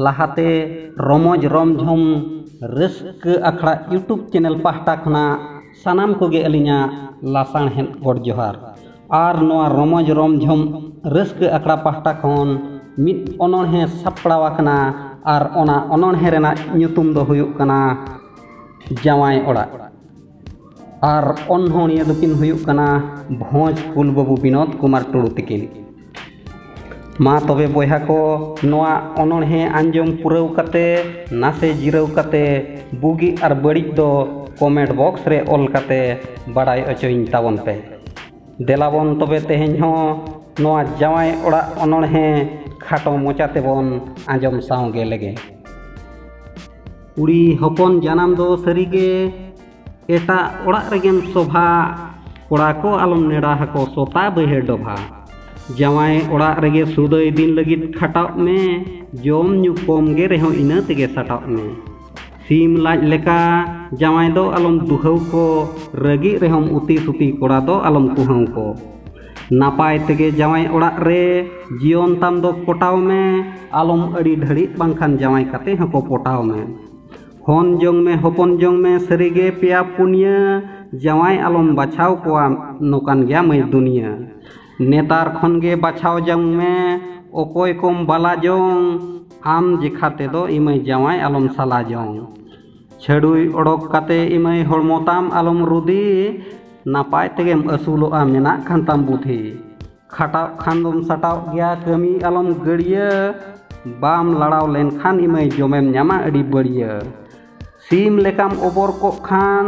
ᱞᱟᱦᱟᱛᱮ ᱨᱚᱢᱚᱡᱽ ᱨᱚᱢᱡᱷᱚᱢ ᱨᱟᱹᱥᱠᱟᱹ ᱟᱠᱷᱲᱟ ᱤᱭᱩᱴᱩᱵᱽ ᱪᱮᱱᱮᱞ ᱯᱟᱦᱴᱟ ᱠᱷᱚᱱᱟᱜ ᱥᱟᱱᱟᱢ ᱠᱚᱜᱮ ᱟᱹᱞᱤᱧᱟᱜ ᱞᱟᱥᱟᱬᱦᱮᱫ ᱜᱚᱰ ᱡᱚᱦᱟᱨ ᱟᱨ ᱱᱚᱣᱟ ᱨᱚᱢᱚᱡᱽ ᱨᱚᱢᱡᱷᱚᱢ ᱨᱟᱹᱥᱠᱟᱹ ᱟᱠᱷᱲᱟ ᱯᱟᱦᱴᱟ ᱠᱷᱚᱱ ᱢᱤᱫ ᱚᱱᱚᱬᱦᱮ ᱥᱟᱯᱲᱟᱣ ᱟᱠᱟᱱᱟ ᱟᱨ ᱚᱱᱟ ᱚᱱᱚᱬᱦᱮ ᱨᱮᱱᱟᱜ ᱧᱩᱛᱩᱢ ᱫᱚ ᱦᱩᱭᱩᱜ ᱠᱟᱱᱟ ᱡᱟᱶᱟᱭ ᱚᱲᱟᱜ ᱟᱨ ᱚᱱᱚᱬᱦᱤᱭᱟᱹ ᱫᱚᱠᱤᱱ ᱦᱩᱭᱩᱜ ᱠᱟᱱᱟ ᱵᱷᱚᱸᱡᱽ ᱠᱩᱞ ᱵᱟᱹᱵᱩ ᱵᱤᱱᱳᱫᱽ ᱠᱩᱢᱟᱨ ᱴᱩᱰᱩ ᱛᱤᱠᱤᱱ ᱢᱟ ᱛᱚᱵᱮ ᱵᱚᱭᱦᱟ ᱠᱚ ᱱᱚᱣᱟ ᱚᱱᱚᱬᱦᱮ ᱟᱸᱡᱚᱢ ᱯᱩᱨᱟᱹᱣ ᱠᱟᱛᱮ ᱱᱟᱥᱮ ᱡᱤᱨᱟᱹᱣ ᱠᱟᱛᱮ ᱵᱩᱜᱤ ᱟᱨ ᱵᱟᱹᱲᱤᱡ ᱫᱚ ᱠᱚᱢᱮᱱᱴ ᱵᱚᱠᱥ ᱨᱮ ᱚᱞ ᱠᱟᱛᱮ ᱵᱟᱲᱟᱭ ᱚᱪᱚᱧ ᱛᱟᱵᱚᱱ ᱯᱮ ᱫᱮᱞᱟᱵᱚᱱ ᱛᱚᱵᱮ ᱛᱮᱦᱮᱧ ᱦᱚᱸ ᱱᱚᱣᱟ ᱡᱟᱶᱟᱭ ᱚᱲᱟᱜ ᱚᱱᱚᱬᱦᱮ ᱠᱷᱟᱴᱚ ᱢᱚᱪᱟ ᱛᱮᱵᱚᱱ ᱟᱸᱡᱚᱢ ᱥᱟᱶᱜᱮ ᱞᱮᱜᱮ ᱠᱩᱲᱤ ᱦᱚᱯᱚᱱ ᱡᱟᱱᱟᱢ ᱫᱚ ᱥᱟᱹᱨᱤᱜᱮ ᱮᱴᱟᱜ ᱚᱲᱟᱜ ᱨᱮᱜᱮᱢ ᱥᱚᱵᱷᱟ ᱠᱚᱲᱟ ᱠᱚ ᱟᱞᱚᱢ ᱱᱮᱰᱟ ᱦᱟᱠᱚ ᱥᱚᱛᱟ ᱵᱟᱹᱭᱦᱟᱹᱲ ᱰᱚᱵᱷᱟ ᱡᱟᱶᱟᱭ ᱚᱲᱟᱜ ᱨᱮᱜᱮ ᱥᱩᱫᱟᱹᱭ ᱫᱤᱱ ᱞᱟᱹᱜᱤᱫ ᱠᱷᱟᱴᱟᱣ ᱢᱮ ᱡᱚᱢ ᱧᱩ ᱠᱚᱢ ᱜᱮ ᱨᱮᱦᱚᱸ ᱤᱱᱟᱹ ᱛᱮᱜᱮ ᱥᱟᱴᱟᱣ ᱢᱮ ᱥᱤᱢ ᱞᱟᱡ ᱞᱮᱠᱟ ᱡᱟᱶᱟᱭ ᱫᱚ ᱟᱞᱚᱢ ᱫᱩᱦᱟᱹᱣ ᱠᱚ ᱨᱟᱹᱜᱤ ᱨᱮᱦᱚᱸ ᱩᱛᱤ ᱥᱩᱛᱤ ᱠᱚᱲᱟ ᱫᱚ ᱟᱞᱚᱢ ᱠᱩᱦᱟᱹᱣ ᱠᱚ ᱱᱟᱯᱟᱭ ᱛᱮᱜᱮ ᱡᱟᱶᱟᱭ ᱚᱲᱟᱜ ᱨᱮ ᱡᱤᱭᱚᱱ ᱛᱟᱢ ᱫᱚ ᱠᱚᱴᱟᱣ ᱢᱮ ᱟᱞᱚᱢ ᱟᱹᱰᱤ ᱰᱷᱟᱹᱲᱤᱜ ᱵᱟᱝᱠᱷᱟᱱ ᱡᱟᱶᱟᱭ ᱠᱟᱛᱮ ᱦᱚᱸᱠᱚ ᱯᱚᱴᱟᱣ ᱢᱮ ᱦᱚᱱ ᱡᱚᱝ ᱢᱮ ᱦᱚᱯᱚᱱ ᱡᱚᱝ ᱢᱮ ᱥᱟᱹᱨᱤᱜᱮ ᱯᱮᱭᱟ ᱯᱩᱱᱭᱟᱹ ᱡᱟᱶᱟᱭ ᱟᱞᱚᱢ ᱵᱟᱪᱷᱟᱣ ᱠᱚᱣᱟ ᱱᱚᱠᱟᱱ ᱜᱮᱭᱟ ᱢᱟᱹᱭ ᱫᱩᱱᱤᱭᱟᱹ ᱱᱮᱛᱟᱨ ᱠᱷᱚᱱ ᱜᱮ ᱵᱟᱪᱷᱟᱣ ᱡᱚᱝ ᱢᱮ ᱚᱠᱚᱭ ᱠᱚᱢ ᱵᱟᱞᱟ ᱡᱚᱝ ᱟᱢ ᱡᱮᱠᱷᱟ ᱛᱮᱫᱚ ᱤᱢᱟᱹᱭ ᱡᱟᱶᱟᱭ ᱟᱞᱚᱢ ᱥᱟᱞᱟ ᱡᱚᱝ ᱪᱷᱟᱹᱰᱩᱭ ᱚᱰᱚᱠ ᱠᱟᱛᱮ ᱤᱢᱟᱹᱭ ᱦᱚᱲᱢᱚ ᱛᱟᱢ ᱟᱞᱚᱢ ᱨᱩᱫᱤ ᱱᱟᱯᱟᱭ ᱛᱮᱜᱮᱢ ᱟᱹᱥᱩᱞᱚᱜᱼᱟ ᱢᱮᱱᱟᱜ ᱠᱷᱟᱱ ᱛᱟᱢ ᱵᱩᱫᱷᱤ ᱠᱷᱟᱴᱟᱣ ᱠᱷᱟᱱ ᱫᱚᱢ ᱥᱟᱴᱟᱣ ᱜᱮᱭᱟ ᱠᱟᱹᱢᱤ ᱟᱞᱚᱢ ᱜᱟᱹᱲᱭᱟᱹ ᱵᱟᱢ ᱞᱟᱲᱟᱣ ᱞᱮᱱᱠᱷᱟᱱ ᱤᱢᱟᱹᱭ ᱡᱚᱢᱮᱢ ᱧᱟᱢᱟ ᱟᱹᱰᱤ ᱵᱟᱹᱲᱭᱟᱹ ᱥᱤᱢ ᱞᱮᱠᱟᱢ ᱚᱵᱚᱨ ᱠᱚᱜ ᱠᱷᱟᱱ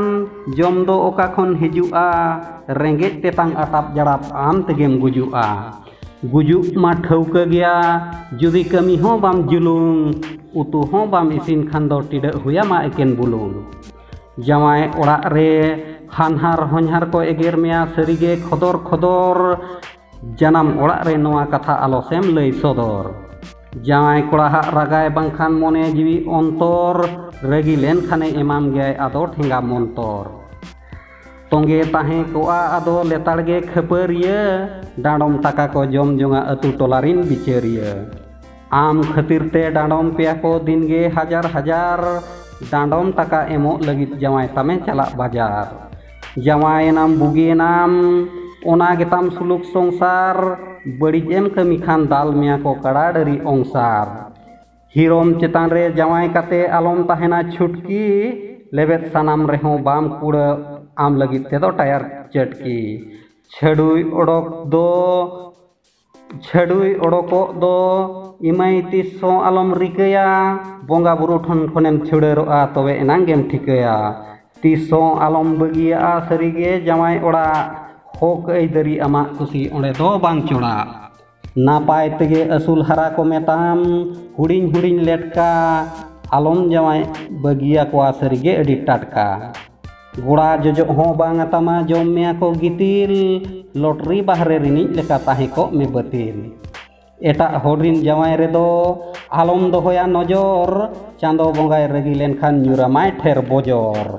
ᱡᱚᱢ ᱫᱚ ᱚᱠᱟ ᱠᱷᱚᱱ ᱦᱤᱡᱩᱜᱼᱟ ᱨᱮᱸᱜᱮᱡ ᱛᱮᱛᱟᱝ ᱟᱴᱟᱯ ᱡᱟᱲᱟᱯ ᱟᱢ ᱛᱮᱜᱮᱢ ᱜᱩᱡᱩᱜᱼᱟ ᱜᱩᱡᱩᱜ ᱢᱟ ᱴᱷᱟᱹᱣᱠᱟᱹ ᱜᱮᱭᱟ ᱡᱩᱫᱤ ᱠᱟᱹᱢᱤ ᱦᱚᱸ ᱵᱟᱢ ᱡᱩᱞᱩᱝ ᱩᱛᱩ ᱦᱚᱸ ᱵᱟᱢ ᱤᱥᱤᱱ ᱠᱷᱟᱱ ᱫᱚ ᱴᱤᱰᱟᱹᱜ ᱦᱩᱭᱟᱢᱟ ᱮᱠᱮᱱ ᱵᱩᱞᱩᱝ ᱡᱟᱶᱟᱭ ᱚᱲᱟᱜ ᱨᱮ ᱦᱟᱱᱦᱟᱨ ᱦᱚᱧᱦᱟᱨ ᱠᱚ ᱮᱜᱮᱨ ᱢᱮᱭᱟ ᱥᱟᱹᱨᱤᱜᱮ ᱠᱷᱚᱫᱚᱨ ᱠᱷᱚᱫᱚᱨ ᱡᱟᱱᱟᱢ ᱚᱲᱟᱜ ᱨᱮ ᱱᱚᱣᱟ ᱠᱟᱛᱷᱟ ᱟᱞᱚ ᱥᱮᱢ ᱞᱟᱹᱭ ᱥᱚᱫᱚᱨ ᱡᱟᱶᱟᱭ ᱠᱚᱲᱟ ᱦᱟᱜ ᱨᱟᱜᱟᱭ ᱵᱟᱝᱠᱷᱟᱱ ᱢᱚᱱᱮ ᱡᱤᱣᱤ ᱚᱱᱛᱚᱨ ᱨᱟᱹᱜᱤ ᱞᱮᱱᱠᱷᱟᱱᱮ ᱮᱢᱟᱢ ᱜᱮᱭᱟᱭ ᱟᱫᱚ ᱴᱷᱮᱸᱜᱟ ᱢᱚᱱᱛᱚᱨ ᱛᱚᱸᱜᱮ ᱛᱟᱦᱮᱸ ᱠᱚᱜᱼᱟ ᱟᱫᱚ ᱞᱮᱛᱟᱲ ᱜᱮ ᱠᱷᱟᱹᱯᱟᱹᱨᱤᱭᱟᱹ ᱰᱟᱸᱰᱚᱢ ᱴᱟᱠᱟ ᱠᱚ ᱡᱚᱢ ᱡᱚᱝᱟ ᱟᱹᱛᱩ ᱴᱚᱞᱟ ᱨᱤᱱ ᱵᱤᱪᱟᱹᱨᱤᱭᱟᱹ ᱟᱢ ᱠᱷᱟᱹᱛᱤᱨ ᱛᱮ ᱰᱟᱸᱰᱚᱢ ᱯᱮᱭᱟ ᱠᱚ ᱫᱤᱱᱜᱮ ᱦᱟᱡᱟᱨ ᱦᱟᱡᱟᱨ ᱰᱟᱸᱰᱚᱢ ᱴᱟᱠᱟ ᱮᱢᱚᱜ ᱞᱟᱹᱜᱤᱫ ᱡᱟᱶᱟᱭ ᱛᱟᱢᱮ ᱪᱟᱞᱟᱜ ᱵᱟᱡᱟᱨ ᱡᱟᱶᱟᱭᱮᱱᱟᱢ ᱵᱩᱜᱤᱭᱮᱱᱟᱢ ᱚᱱᱟ ᱜᱮᱛᱟᱢ ᱥᱩᱞᱩᱠ ᱥᱚᱝᱥᱟᱨ ᱵᱟᱹᱲᱤᱡ ᱮᱢ ᱠᱟᱹᱢᱤ ᱠᱷᱟᱱ ᱫᱟᱞ ᱢᱮᱭᱟ ᱠᱚ ᱠᱟᱲᱟ ᱰᱟᱹᱨᱤ ᱚᱝᱥᱟᱨ ᱦᱤᱨᱚᱢ ᱪᱮᱛᱟᱱ ᱨᱮ ᱡᱟᱶᱟᱭ ᱠᱟᱛᱮ ᱟᱞᱚᱢ ᱛᱟᱦᱮᱱᱟ ᱪᱷᱩᱴᱠᱤ ᱞᱮᱵᱮᱫ ᱥᱟᱱᱟᱢ ᱨᱮᱦᱚᱸ ᱵᱟᱢ ᱠᱩᱲᱟᱹᱜ ᱟᱢ ᱞᱟᱹᱜᱤᱫ ᱛᱮᱫᱚ ᱴᱟᱭᱟᱨ ᱪᱟᱹᱴᱠᱤ ᱪᱷᱟᱹᱰᱩᱭ ᱚᱰᱚᱠ ᱫᱚ ᱪᱷᱟᱹᱰᱩᱭ ᱚᱰᱚᱠᱚᱜ ᱫᱚ ᱮᱢᱟᱹᱭ ᱛᱤᱥ ᱦᱚᱸ ᱟᱞᱚᱢ ᱨᱤᱠᱟᱹᱭᱟ ᱵᱚᱸᱜᱟ ᱵᱩᱨᱩ ᱴᱷᱮᱱ ᱠᱷᱚᱱᱮᱢ ᱪᱷᱩᱰᱟᱹᱨᱚᱜᱼᱟ ᱛᱚᱵᱮ ᱮᱱᱟᱝ ᱜᱮᱢ ᱴᱷᱤᱠᱟᱹᱭᱟ ᱛᱤᱥ ᱦᱚᱸ ᱟᱞᱚᱢ ᱵᱟᱹᱜᱤᱭᱟᱜᱼᱟ ᱥᱟᱹᱨᱤᱜᱮ ᱡᱟᱶᱟᱭ ᱚᱲᱟᱜ ᱦᱚᱸᱠ ᱟᱹᱭᱫᱟᱹᱨᱤ ᱟᱢᱟᱜ ᱠᱩᱥᱤ ᱚᱸᱰᱮ ᱫᱚ ᱵᱟᱝ ᱪᱚᱲᱟᱜ ᱱᱟᱯᱟᱭ ᱛᱮᱜᱮ ᱟᱹᱥᱩᱞ ᱦᱟᱨᱟ ᱠᱚᱢᱮ ᱛᱟᱢ ᱦᱩᱰᱤᱧ ᱦᱩᱰᱤᱧ ᱞᱮᱴᱠᱟ ᱟᱞᱚᱢ ᱡᱟᱶᱟᱭ ᱵᱟᱹᱜᱤᱭᱟᱠᱚᱣᱟ ᱥᱟᱹᱨᱤᱜᱮ ᱟᱹᱰᱤ ᱴᱟᱴᱠᱟ ᱜᱚᱲᱟ ᱡᱚᱡᱚᱜ ᱦᱚᱸ ᱵᱟᱝ ᱟᱛᱟᱢᱟ ᱡᱚᱢ ᱢᱮᱭᱟ ᱠᱚ ᱜᱤᱛᱤᱞ ᱞᱚᱴᱨᱤ ᱵᱟᱦᱨᱮ ᱨᱤᱱᱤᱡ ᱞᱮᱠᱟ ᱛᱟᱦᱮᱸ ᱠᱚᱜ ᱢᱮ ᱵᱟᱹᱛᱤᱞ ᱮᱴᱟᱜ ᱦᱚᱲ ᱨᱤᱱ ᱡᱟᱶᱟᱭ ᱨᱮᱫᱚ ᱟᱞᱚᱢ ᱫᱚᱦᱚᱭᱟ ᱱᱚᱡᱚᱨ ᱪᱟᱸᱫᱚ ᱵᱚᱸᱜᱟᱭ ᱨᱟᱹᱜᱤ ᱞᱮᱱᱠᱷᱟᱱ ᱧᱩᱨᱟᱢᱟᱭ ᱴᱷᱮᱨ ᱵᱚᱡᱚᱨ